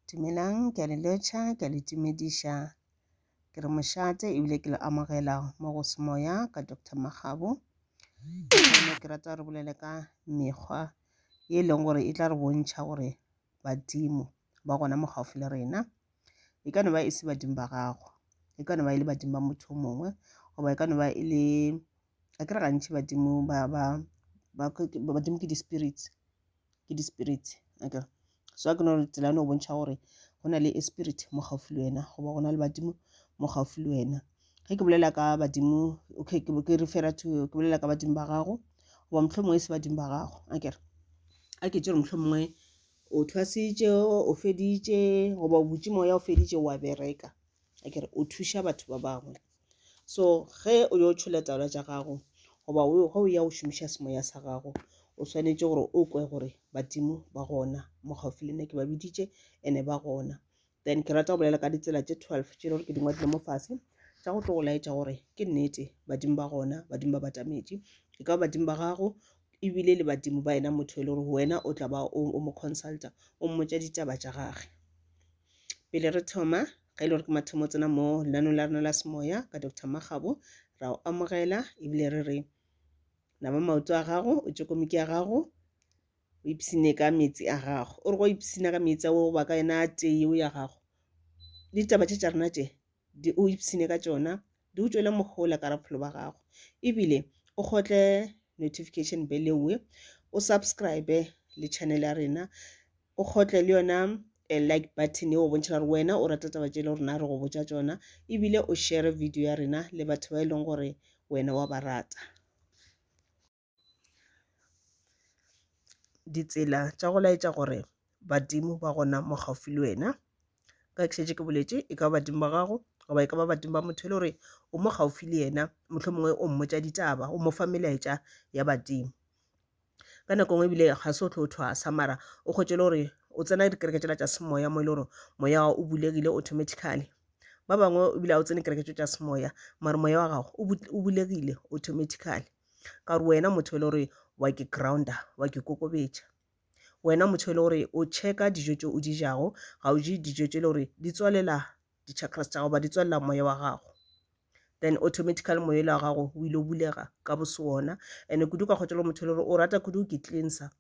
Dumelang, ke a le lotšha, ke a le tumediša. Ke re mošate ebile ke le amogela mo go semoya ka Doctor Makgabo. Ene ke rata re bolele ka mekgwa e leng gore e tla re bontšha gore badimo ba gona mo gaufi le rena. E ka no ba e se badimo ba gago, e ka no ba e le badimo ba motho o mongwe, goba e ka no ba e le a ke re gantši badimo ba ba badimo ke di-spirits ke di-spirits akere so a ke no tsela ya no bontšha gore go na le a spirit mo gaufi le wena goba go na le badimo mo gaufi le wena ge ke bolela ka badimo okay ke refera to ke bolela ka badimo ba gago goba motlho mongwe e se badimo ba gago akere a ke tse re motlho mongwe o thwasitše o feditše goba o butše moya o feditše wa bereka a kere o thuša batho ba bangwe so ge o yo tšhola taolo tša gago goba ge o ya o šomiša semoya sa gago o swanetše gore o kwe gore badimo ba gona mo gaufi le nna ke ba biditše ene ba gona then ke rata go bolela ka ditsela tše twelve tše gore ke dingwe dilo mo fase tša go tlo go laetša gore ke nnete badimo ba gona badimo ba batametše e ka badimo ba gago ebile le badimo ba ena motho e le gore wena o tla ba o mo consulta o mmotša ditaba tša gage Pele re thoma, ge e le gore ke mathomo tsena mo lenanong la rena la semoya ka Dr. Magabo, ra o amogela ebile re re nama maoto a gago, o tšokomiki ya gago, o ipsine ka meetse a gago. O re go ipsina ka meetse ao ba ka yona a tee yeo ya gago. Le ditaba tše tša rena tše, di o ipsine ka tšona, di o tšwele mohola ka raphelo ba gago. Ebile o kgotle notification bell ewe, o subscribe le channel ya rena o kgotle le yona eh, like button yeo bontšha gore wena o rata taba tše le rena re go botša tšona ebile o share video ya rena le batho ba e leng gore wena wa ba rata ditsela tša go laetša gore badimo ba gona mo gaufi le wena ka ke šetše ke boletše e ka ba badimo ba gago goba e ka ba badimo ba motho e le gore o mo gaufi le yena mohlomongwe o mmotša ditaba o mo fa melaetša ya badimo ka nako ngwe ebile ga se o tlo o thwasa mara o kgwetše le gore o tsena dikereke tšela tša semoya mo e le gore moya o bulegile automatically ba bangwe ebile ga o tsene kereke tšo tša semoya mara moya wa gago o bulegile automatically ka gore wena motho e le gore wa ke grounda wa ke kokobetša wena motho e le gore o checka dijo tše o di jago ga o je dijo tše e le gore di tswalela di chakras tša gago ba di tswalela moya wa gago then automatically moya ile wa gago o ile o bulega ka bosona and kudu ka kgotšelo motho le gore o rata kudu ke cleanser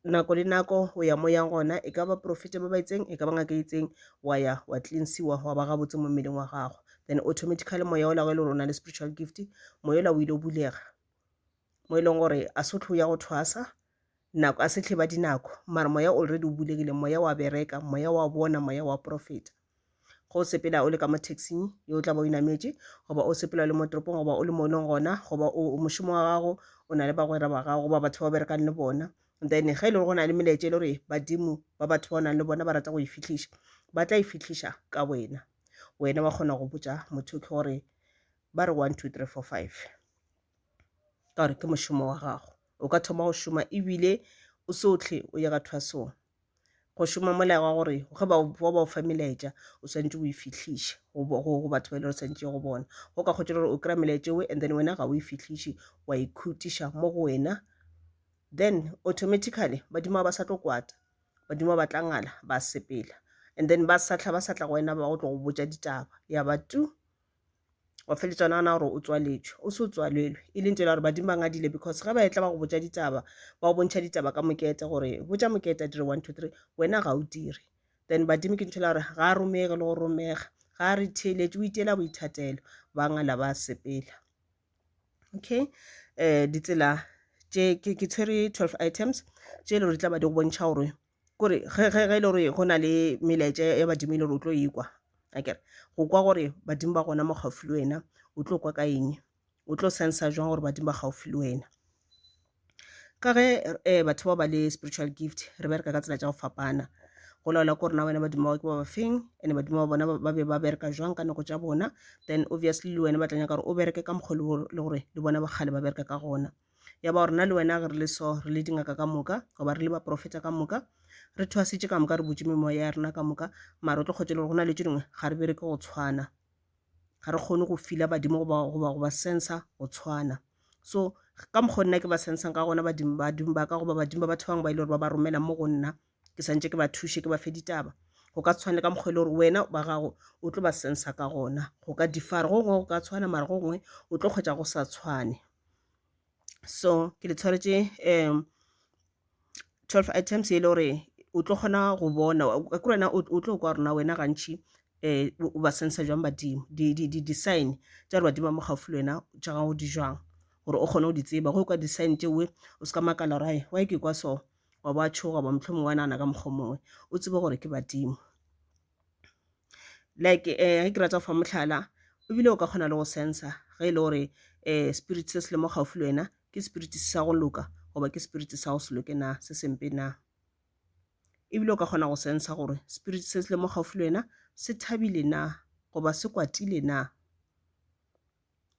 nako le nako o ya mo yang gona e ka ba profete ba ba itseng e ka ba ngaka e itseng wa ya wa cleansiwa wa ba gabotse mo mmeleng wa gago then automatically moya o lago e le gore o na le spiritual gift moya ola o ile o bulega mo e leng gore a se o tlho ya go thwasa Nako, a se tleba dinako, mara moya already o bulegile, moya wa bereka, moya wa bona, moya wa profeta. Ge o sepela o le ka mo taxing ye o tla ba o inametše, goba o sepela o le mo toropong, goba o le mo e leng gona, goba o mošomo wa gago, o na le bagwera ba gago, goba batho ba o berekang le bona, then ge e le gore go na le melaetša e le gore badimo ba batho ba o nang le bona ba rata go e fihliša, ba tla e fihliša ka wena. Wena wa kgona go botša motho ke gore ba re one, two, three, four, five ka gore ke mošomo wa gago. o ka thoma go šoma ebile o se o tlhe o ye ka thwasong go šoma molao wa gore ge ba ba ba o fa melaetša o swantse o e fihliše go bo- go go batho ba e le gore swantse go bona go ka kgotsa gore o kry-a melaetša ewe and then wena ga o e fihliše wa e khutiša mo go wena then automatically badimo ga ba sa tlo kwata badimo ba tla ngala ba sepela and then ba sa tla ba sa tla go wena ba go tlo go botša ditaba ya ba tu wa feletša o nagana gore o tswaletšwe o se o tswalelwe e leng tsela gore badimo ba ngadile because ge ba etla ba go botša ditaba ba go bontšha ditaba ka mokete gore botša mokete a dire one two three wena ga o dire then badimo ke ntho e la gore ga a romege le go romega ga a re theeletše o iteela boithatelo ba ngala ba sepela okay um ditsela ke tshwere twelve items tše e le gore di tla ba di go bontšha gore kore ge ge ge e le gore go na le melaetša ya badimo e le gore o tlo e kwa akere go kwa gore badimo ba gona mo gaufi le wena o tlo kwa ka eng o tlo sensa jwang gore badimo ba gaufi le wena ka ge um batho ba ba le spiritual gift re bereka ka tsela tša go fapana go laola ko rena wena badimo ba ke ba ba feng and-e badimo ba bona ba be ba bereka jwang ka nako tša bona then obviously le wena ba tla nyaka gore o bereke ka mokgwa o le gore le bona ba kgale ba bereka ka gona. ya ba gore nna le wena ge re le so re le dingaka ka moka goba re le baporofeta ka moka re thwasitše ka moka re butše memoya ya rena ka moka mare o tlo kgotse le gore go na le tše dingwe ga re bereke go tshwana ga re kgone go fila badimo goba sensa go tshwana so ka mokgwa nna ke ba sensang ka gona badimo ba ka goba badimo ba batho bangwe ba e le gore ba ba romela mo go nna ke santše ke ba thuše ke ba fe ditaba go ka tshwana le ka mokgwa e le gore wena ba gago o tlo ba sensa ka gona go ka difara go gongwe go ka tshwana mara go gongwe o tlo kgwetsa go sa tshwane so ke le tshwaretše um twelve items e le gore o tlo kgona go bona ka kore wena o tlo kwa rona wena gantšhi um o ba sensa jwang badimo di-sign tša gore badimo ba mo gaufi le wena tša gago di jwang gore o kgone go di tseba go kwa di-sign tšeoe o se ka makala gore why ke kwa so wa ba tšhoga ba mohlomongwe wa nagana ka mokgwa mongwe o tsebe gore ke badimo like um ge ke rata go fa mohlala ebile o ka kgona le go sensa ge e le gore um spirit se se le mo gaufi le wena ke spirit se sa go loka goba ke spirit sa go se loke na se sempe na ebile o ka kgona go sensa gore spirit se se le mo gaufi le wena se thabile na goba se kwatile na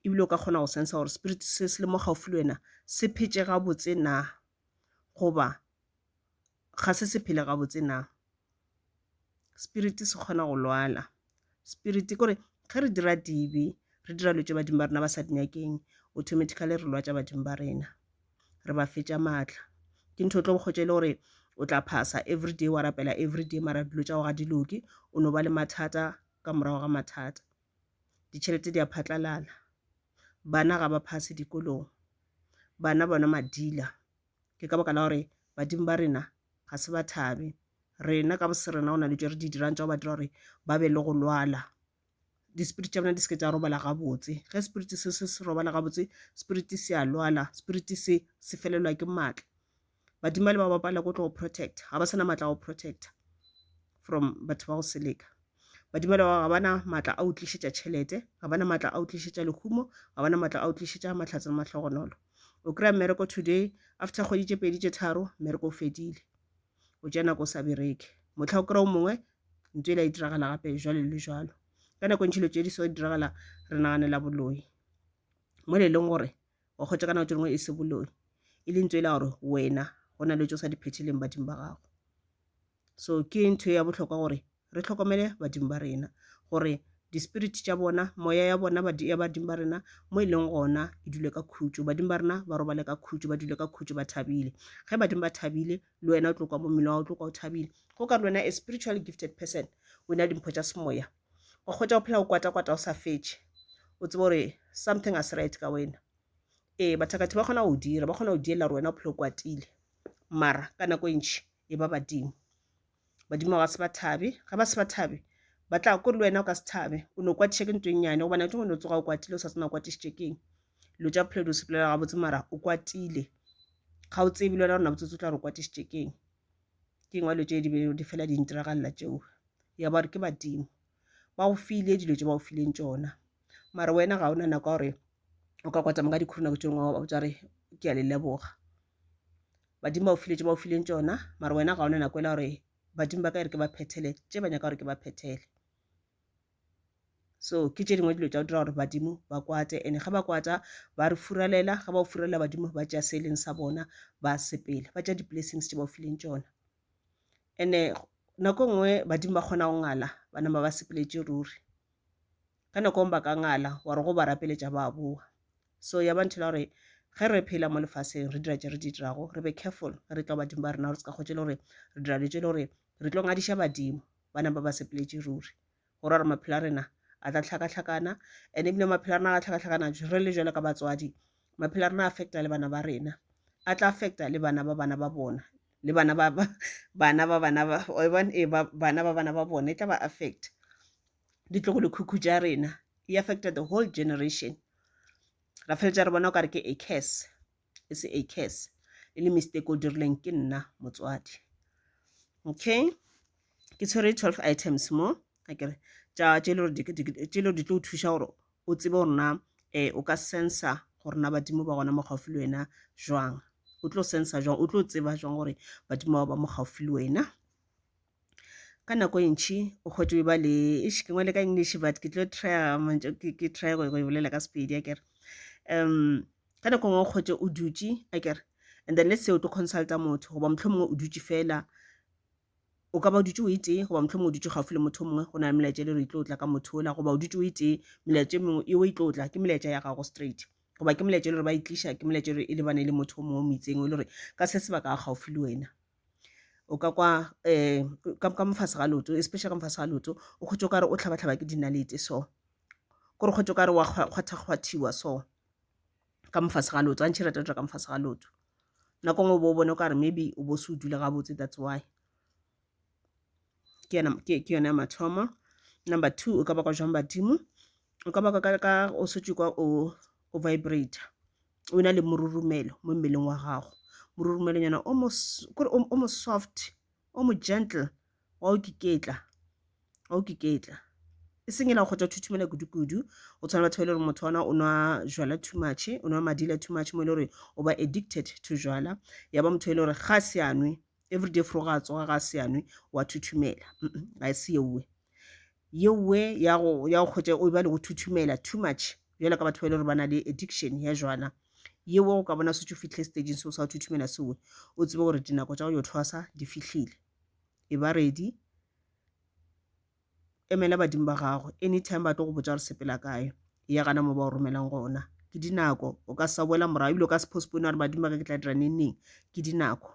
ebile o ka kgona go sensa gore spirit se se le mo gaufi le wena se phetse gabotse na. goba ga se se phele gabotse na? Spirit se kgona go lwala, spirit kore ge re dira dibe re dira dilo tše badimo ba rena ba sa di nyakeng automatically re lwatša badimo ba rena, re ba fetša maatla. Ke ntho e tlo kgotša e le gore o tla phasa everyday wa rapela everyday mara dilo tša gago ga di loke, o no ba le mathata ka morago ga mathata. ditšhelete di a phatlalala, bana ga ba phase dikolong, bana bona madila. Ke ka baka la gore badimo ba rena ga se ba thabe. Rena ka bosrena go na le tšo re di dirang tša go ba dira gore ba be le go lwala, di spirit tša bona di seke tša robala gabotse. Ge spirit se se se robala gabotse, spirit se a lwala, spirit se se felelwa ke maatla. badimo le ba ba palego tlo go protector ga ba sana maatla a go protector from batho ba go seleka badimo le ba ga bana maatla a utlišetša tšhelete ga bana maatla a utlišetša lehumo ga bana maatla a utlišetša matlhatse le mahlogonolo o kry-a mmereko today after kgwedi tše pedi tše tharo mmereko o fedile o tša nako o sa bereke motlha o kry-o mongwe ntho ela e diragala gape jalo le jalo ka nako ntšhilo tše di so diragala re naganela boloi mo le e leng gore wa kgwetša ka nako tše dingwe e se boloi e le ntso e la gore wena go na le tso sa di phetheleng badimo ba gago so ke ntho ya bohlokwa gore re tlhokomele badimo ba rena gore di-spirit tša bona moya ya bona ya badimo ba rena mo e leng gona e dule ka khutšo badimo ba rena ba robale ka khutšo ba dule ka khutšo ba thabile ge badimo ba thabile le wena o tlo kwa mo mmele wa o tlo kwa o thabile go ka le wena a spiritual gifted person o na le dimpho tša semoya wa kgwetša o phela o kwata-kwata o sa fetše o tseba gore something ga se right ka wena ee bathakathi ba kgona go dira ba kgona go diela gore wena o phela o kwatile mara ka nako e ntšhi e ba badimo badimo ga se ba thabe ga ba se ba thabe ba tla ko le wena o ka se thabe o ne o kwatiša ke ntho e nnyane gobane ke ngone o tsoga o kwatile o sa tsena o kwatišitše keng dilo tša bophelo di o sepelela gabotse mara o kwatile ga o tsebe le wena gore na botsotsi o tla re o kwatišitše keng ke ngwalo tše di be di fela di ntiragalela tšeo ya ba gore ke badimo ba go file dilo tše ba go fileng tšona mare wena ga o na nako gore o ka kwatama ka dikhuru nako tše dingwe wa botsa gore ke a le leboga badimo ba go file tše ba go fileng tšona mare wena ga o na nako ela gore badimo ba ka e re ke ba phethele tše ba nyaka gore ke ba phethele so ke tše dingwe dilo tša go dira gore badimo ba kwate and ga ba kwata ba re furalela ga ba o furalela badimo ba tša se e leng sa bona ba sepele ba tša di-blessings tše ba o fileng tšona and-e nako e nngwe badimo ba kgona go ngala ba nama ba sepeletše ruri ka nako ngwe ba ka ngala wa re go ba rapeletša ba boa so ya ba nthela gore ge re phela mo lefaseng re dira tše re di dirago re be careful re tla badimo ba rena gore se ka kgotse le gore re dira dilo tše le gore re tlo ngadiša badimo ba napa ba sepeletše ruri go ra gore maphelo a rena a tla tlhakatlhakana and ebile maphelo a rena a tlhakatlhakana re le jalo ka batswadi maphelo a rena a affecta le bana ba rena a tla affecta le bana ba bana ba bona le bana ba bana ba bana ba e bana ba bana ba bona e tla ba affect ditlogo lekhukhu tša rena e affecta the whole generation ra feletša re bona o kare ke a curse e se a curse e le mistake o dirileng ke nna motswadi okay ke tshwere 12 items mo a kere tša tše le gore di tlo thuša gore o tsebe gore na um o ka sensa gore na badimo ba gona mo gaufi le wena jwang o tlo sensa jwang o tlo tseba jwang gore badimo ba ba mo gaufi le wena ka nako e ntši o kgwetše ba le ish ke ngwale ka english but ke tlo try mantso ke try go e bolela ka sepedi akere um ka nako e nngwe o kgwetše o dutše akere and then let's say o tlo consulta motho goba motlho mongwe o dutše fela o ka ba o dutše o e tee goba motlho mongwe o dutše gaufi le motho o mongwe go na le melaetša e le gore e tlo tla ka motho ola goba o dutše o e tee melaetša e mengwe eo e tlo tla ke melaetša ya gago straight goba ke molaetša e le gore ba e tliša ke molaetša e lebane le motho o mongwe o moitseng o le gore ka se sebaka a gaufi le wena o ka kwa um ka mofase ga leoto especially ka mofase ga leoto o kgwetše o kare o tlhabatlhaba ke dinalete so kore kgwetše o kare wa kgwathakgwathiwa so ka mofase ga leoto gantšhi e rata go dira ka mofase ga leoto nako ngwe o bo o bone o kare maybe o bo se o dule gabotse that's why ke yona ke ke yona ya mathomo number two o ka bakwa jwang badimo o ka bakwa ka ka o sotšwe kwa o o vibrator o na le morurumelo mo mmeleng wa gago morurumelonyana o mo kore o mo soft o mo gentle wa o kiketla wa o kiketla e seng ela go tša thuthumela kudu-kudu o tshwana batho ba e le gore motho ona o nwa jwala too much o nwa madila too much mo e le gore o ba addicted to jwala ya ba motho e le gore ga se anwe everyday fro ga tsoga ga se anwe wa thuthumela ga e se yeue yeowe ya go ya go kgwetša o e ba le go thuthumela too much bjalo ka batho ba e le gore ba na le addiction ya jwana yeowe go ka bona se tso fitlhe stageng seo sa go thuthumela sewe o tsebe gore dinako tša go yo thwasa di fihlile e ba ready emela badimo ba gago anytime ba tlo go botsa gore sepela kae ya gana mo ba o romelang gona ke dinako o ka sa boela morago ebile o ka se postpone gore badimo ba ka ke tla dira neng neng ke dinako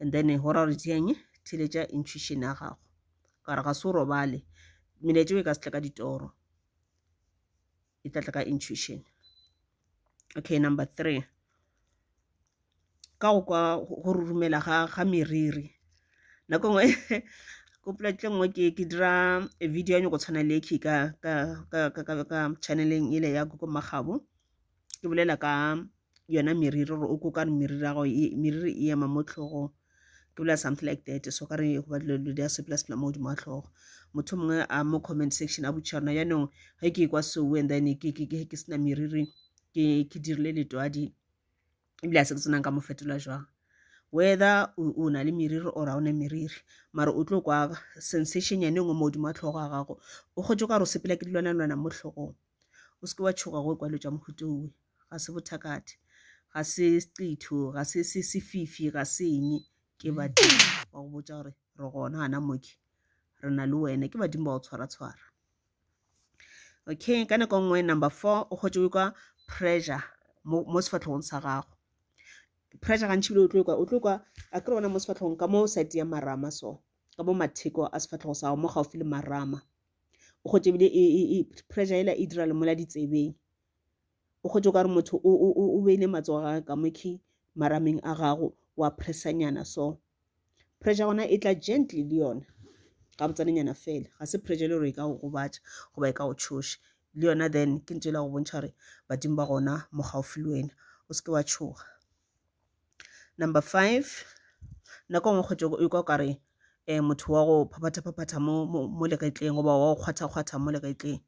and then go ra gore tšeeng theletša intuition ya gago ka re ga se o robale melaetšeo e ka se tle ka ditoro e tla tla ka intuition okay number three ka go kwa go rurumela ga ga meriri nako nngwe ko poleke nngwe ke ke dira video nyoko tshwana le ke ka ka ka ka ka ka channeleng ile ya go magabo ke bolela ka yona meriri gore o kokane meriri ya gago e, meriri e ema mo tlhogong ke bolela something like that so ka re go ba dilo di a sepela sepela mo godimo ga tlhogo motho mongwe a mo comment section a botšiša rona jaanong ge ke kwa soo and then ke ke ke ke sena meriri ke ke dirile letwadi ebile a se ke tsenang ka mo fetola jwang whether o na le meriri or a o ne meriri mara o tlo kwa sensation yane nngwe mo godimo wa tlhogo ga gago o kgotse ka gore o sepela ke dilwana-lwana mo tlhogong O se ke wa tšhoga go ekwa dilo tša mohuta owe. Ga se bothakathe, ga se seqitho, ga se se sefifi, ga se eng. Ke badimo ba go botša gore re gona gana moke, re na le wena. Ke badimo ba go tshwara-tshwara. Okay, ka nako nngwe number four, o kgotše o kwa pressure mo, mo sefahlogong sa gago. Pressure gantši bile o tlo kwa, o tlo kwa, a kere gona mo sefahlogong ka mo side ya marama so, ka mo matheko a sefahlego sa gago mo gaufi le marama. o kgotse ebile e, e, e, pressure ela e dira lemola ditsebeng o kgotse o ka re motho o beile matsogo ga ka mokhi marameng a gago wa pressanyana so pressure gona e tla gently le yona ga botsanenyana fela ga se pressure le gore e ka go gobatša goba e ka go tshoša le yona then ke ntse e la go bontšha gore badimo ba gona mo gaufi le wena o seke wa tshoga Number five, nako nngwe kgwetšo o ikwa kare um motho wa go phaphatha-phaphatha mo, mo, mo legetleng goba wa go kgwatha-kgwatha mo legetleng.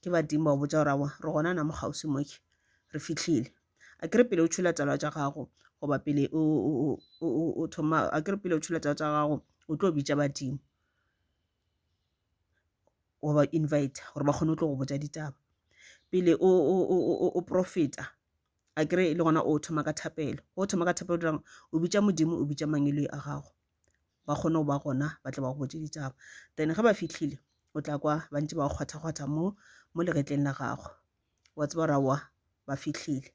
Ke badimo ba botša gore aowa re gona na mo kgauswi mo ke re fihlile. A ke re pele o tšhula taba tša gago goba pele o, o, o, o, o thoma a ke re pele o tšhula taba tša gago o tlo bitša badimo wa ba inviter gore ba kgone go tlo go botša ditaba pele o, o, o, o, o profeta a kere le gona o thoma ka thapelo o thoma ka thapelo dirang o bitša modimo o bitša mangeloi a gago ba kgone go ba gona ba tle ba go botse ditaba then ge ba fitlhile o tla kwa ba ntse ba go kgwathakgwatha mo mo legetleng la gago wa tseba ra wa ba fitlhile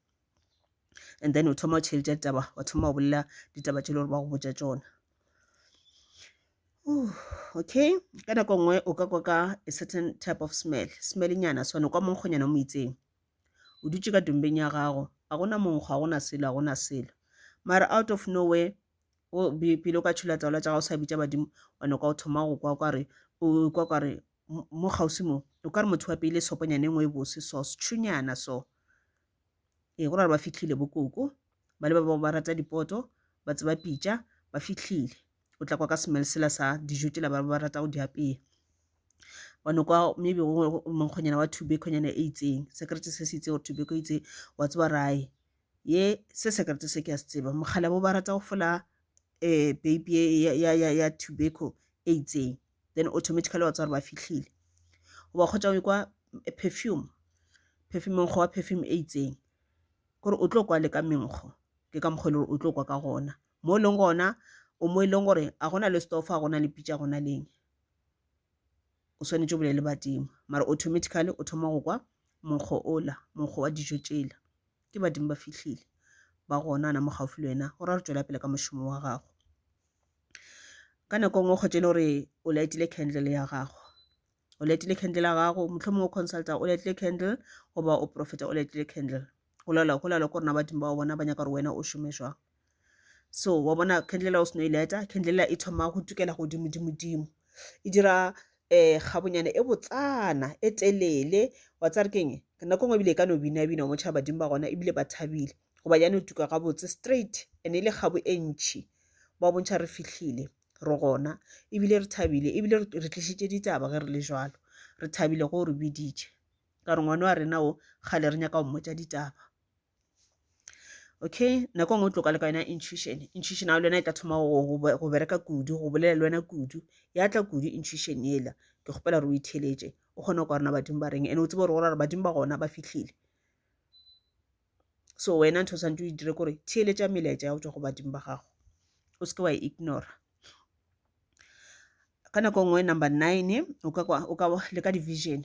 and then o thoma o tšheletša ditaba wa thoma o bolela ditaba tše le gore ba go botša tsona okay ka nako nngwe o ka kwa ka a certain type of smell smell nyana sone kwa monkgonyana mo itseng O dutše ka tumbeng ya gago. Ga go na monkgo, ga go na selo, ga go na selo. Mara out of nowhere, o be pele o ka tšhula taola tša gago sa bitša badimo, wa no kwa o thoma go kwa kwa re, o kwa kwa re, mo kgauswi mo, o ka re motho wa pele soponyane engwe e bose so, setšhunyana so. Ee, go ra gore ba fihlile bo koko, ba le ba bao ba rata dipoto, ba tseba pitša, ba fihlile. o tla kwa ka smell sela sa dijo tšela ba ba rata go di apea one kwa maybe monkgonyana wa tubekhonyana e itseng sekerete se se itse gore tubeko itse wa tseba rae ye se sekerete se ke a se tseba mogala bo ba rata go fola um baby ya, ya, ya, ya tobacco e itseng then automatically wa tswa gore ba fitlhile goba kgotsa o kwa eh, perfume perfume monkgo wa perfume e itseng kore o tlo kwa le ka menkgo ke ka mokgwa e le gore o tlo kwa ka gona Mo e leng gona o mo e leng gore a gona le store fa gona le pitša gona leng o swanetše o bolele badimo mara automatically o thoma go kwa monkgo ola monkgo wa dijo tšela ke badimo ba fihlile ba gona na mo gaufi le wena gore a re tšwela pele ka mošomo wa gago ka nako e nngwe kgotse e le gore o laetile candle ya gago o letile candle ya gago mohlomongwe o consulta o letile candle goba o profeta o letile candle go lala go lala ko rena badimo ba bona ba nyaka gore wena o šome jwang so wa bona candlela o seno e leta candlela e thoma go tukela godimodimodimo e dira um eh, gabonyane e botsana e telele wa tsa re keng nako ngwe ebile e ka no binabina mo tšhaba badimo ba gona ebile ba thabile goba ya no tuka gabotse straight and e le gabo e ntšhi ba bontšha re fitlhile re gona ebile re thabile ebile re tlišitše ditaba ge re le jalo re thabile go re biditše ka re ngwana wa rena o kgale re nyaka go mmotsa ditaba okay nako e nngwe o tloka le ka yona intuition intuition ao le yona e tla thoma go bereka kudu go bolela le wena kudu ya tla kudu intuition ela ke kgopela re o itheletše o kgone go kwa rena badimo ba reng ene o tsebe gore gore badimo ba gona ba fitlhile so wena ntho o santse o e dire kore theeletša melaetša ya go tswa go badimo ba gago o seke wa e ignora ka nako nngwe number nine o ka kwa- o ka wa- le ka division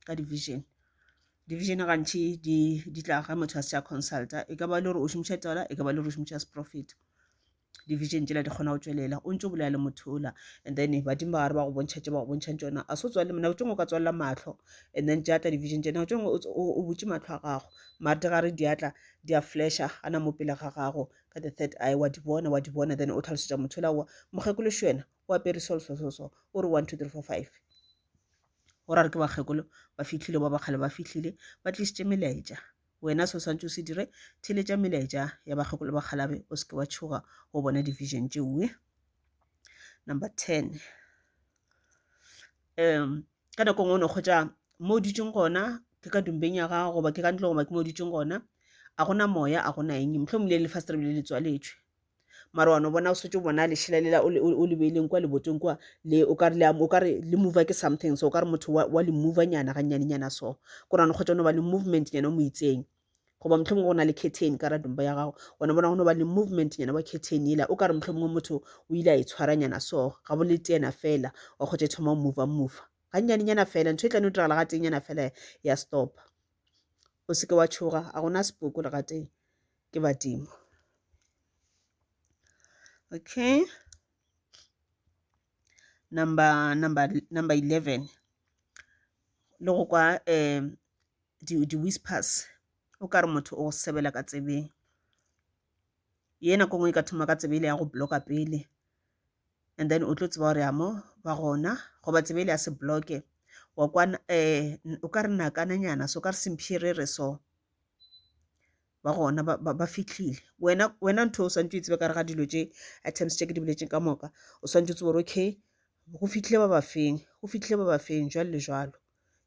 ka division division gantši di di tla ga motho a se a consulta e ka ba le gore o šomiša tsala e ka ba le gore o šomiša seprofeta division tšela di kgona go tšwelela o ntse o bolela le motho ola and then badimo ba gare ba go bontšha tše ba go bontšhang tsona a se o tswalele nako tšengwe o ka tswalela mahlo and then tša tla division tše nako tšengwe o butše mahlo a gago mare di gare di atla di a flasha gana mo pele ga gago ka the third eye wa di bona wa di bona then o tlhalosetša motho ola wa mokgekolo še wena o apere so so so so o re one two three four five go ra re ke bakgekolo ba fitlhile ba ba kgale ba fitlhile ba tlisitše melaetša Wena se o swantše o se dire, theeletša melaetša ya bakgeko le bakgalabje, o se ke wa tšhoga go bona division tšeue. Number ten, um ka nako e nngwe o no kgwetša mo o dutšeng gona ke ka dumbeng ya gago goba ke ka ntle goba ke mo o dutšeng gona a gona moya a gona eng mohlomongile le fastrebe le le tswaletšwe mara wa no bona o setse o bona lešela lela o le beileng kwa leboteng kwa le o kare o kare le mova ke something so o kare motho wa le mova nyana ga nyane nyana so go rano kgotsa no ba le movement nyana o mo itseng goba motlho mongwe go na le curtain ka radumba ya gago ona bona go no ba le movement nyana wa curtain ela o kare motlho mongwe motho o ile a e tshwara nyana so ga bo le tena fela wa kgotsa e thoma o mova mova ga nyane nyana fela ntho e tlane o diragala ga teng nyana fela ya stop o seke wa tshoga a gona sepoko le ga teng ke badimo okay number number number 11 le go kwa um di-whispers o ka re motho o sebela ka tsebeng yena ko ngwe e ka thoma ka tsebele ya go bloka pele and then o tlo tseba gore amo ba gona goba tsebele ya se bloke wa kwana um o ka re nakananyana so o ka re sempherere so ba gona ba, ba, ba fihlile wena wena ntho o swantse o e tsebe ka re ga dilo tše items tše ke di boletseng ka moka o swantse o tsebe gore okay go fihlile ba ba feng go fihlile ba ba feng jwalo le jwalo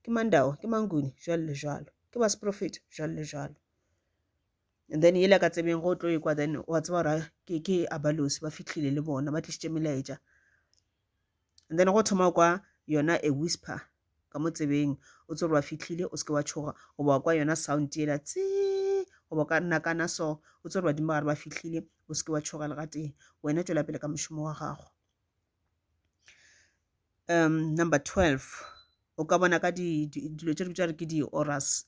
ke mandao ke manguni jwalo le jwalo ke ba seprofeta jwalo le jwalo and then yela ka tsebeng go tlo ekwa then wa tseba gore ke ke abalosi ba fihlile le bona ba tlisitše melaetša And then go thoma kwa yona a whisper ka mo tsebeng o tsere wa fitlhile o seke wa tshoga goba wa kwa yona sound yela tsee goba o ka nakana so o tsere badimo gare ba fitlhile o seke wa tshoga le gatee wena tswela pele ka mošomo wa gago um number 12 o ka bona ka dilo tse re bitsa re ke di-oras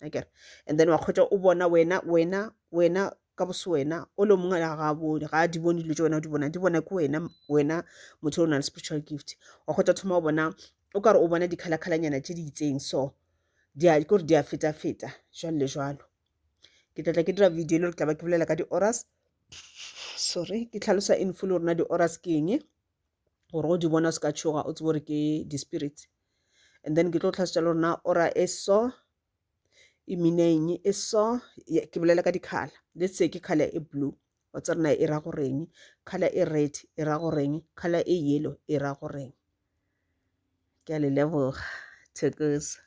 akere and then wa kgwetsa o bona wena wena wena ka bose wena o le mongwe la ga bone ga di bone dilo tse wena o di bona di bona ke wena wena motho o na le spiritual gift wa kgwetsa thoma o bona o kare o bona dikgalakgalanyana tse di itseng so di a kore di a feta feta jalo le jalo ke tlatla ke dira video le re tla ba ke bolela ka di-oras sorry ke tlhalosa in full rona di-oras ke eng gore o di bona o se ka tšhoga o tsebe gore ke di-spirits and then ke tlo tlhasetša le rona ora e so e mineng e so ke bolela ka dikgala let's say ke kgala e blue wa tsa rena e ra goreng kgala e red e ra goreng kgala e yellow e ra goreng ke a le leboga thekosa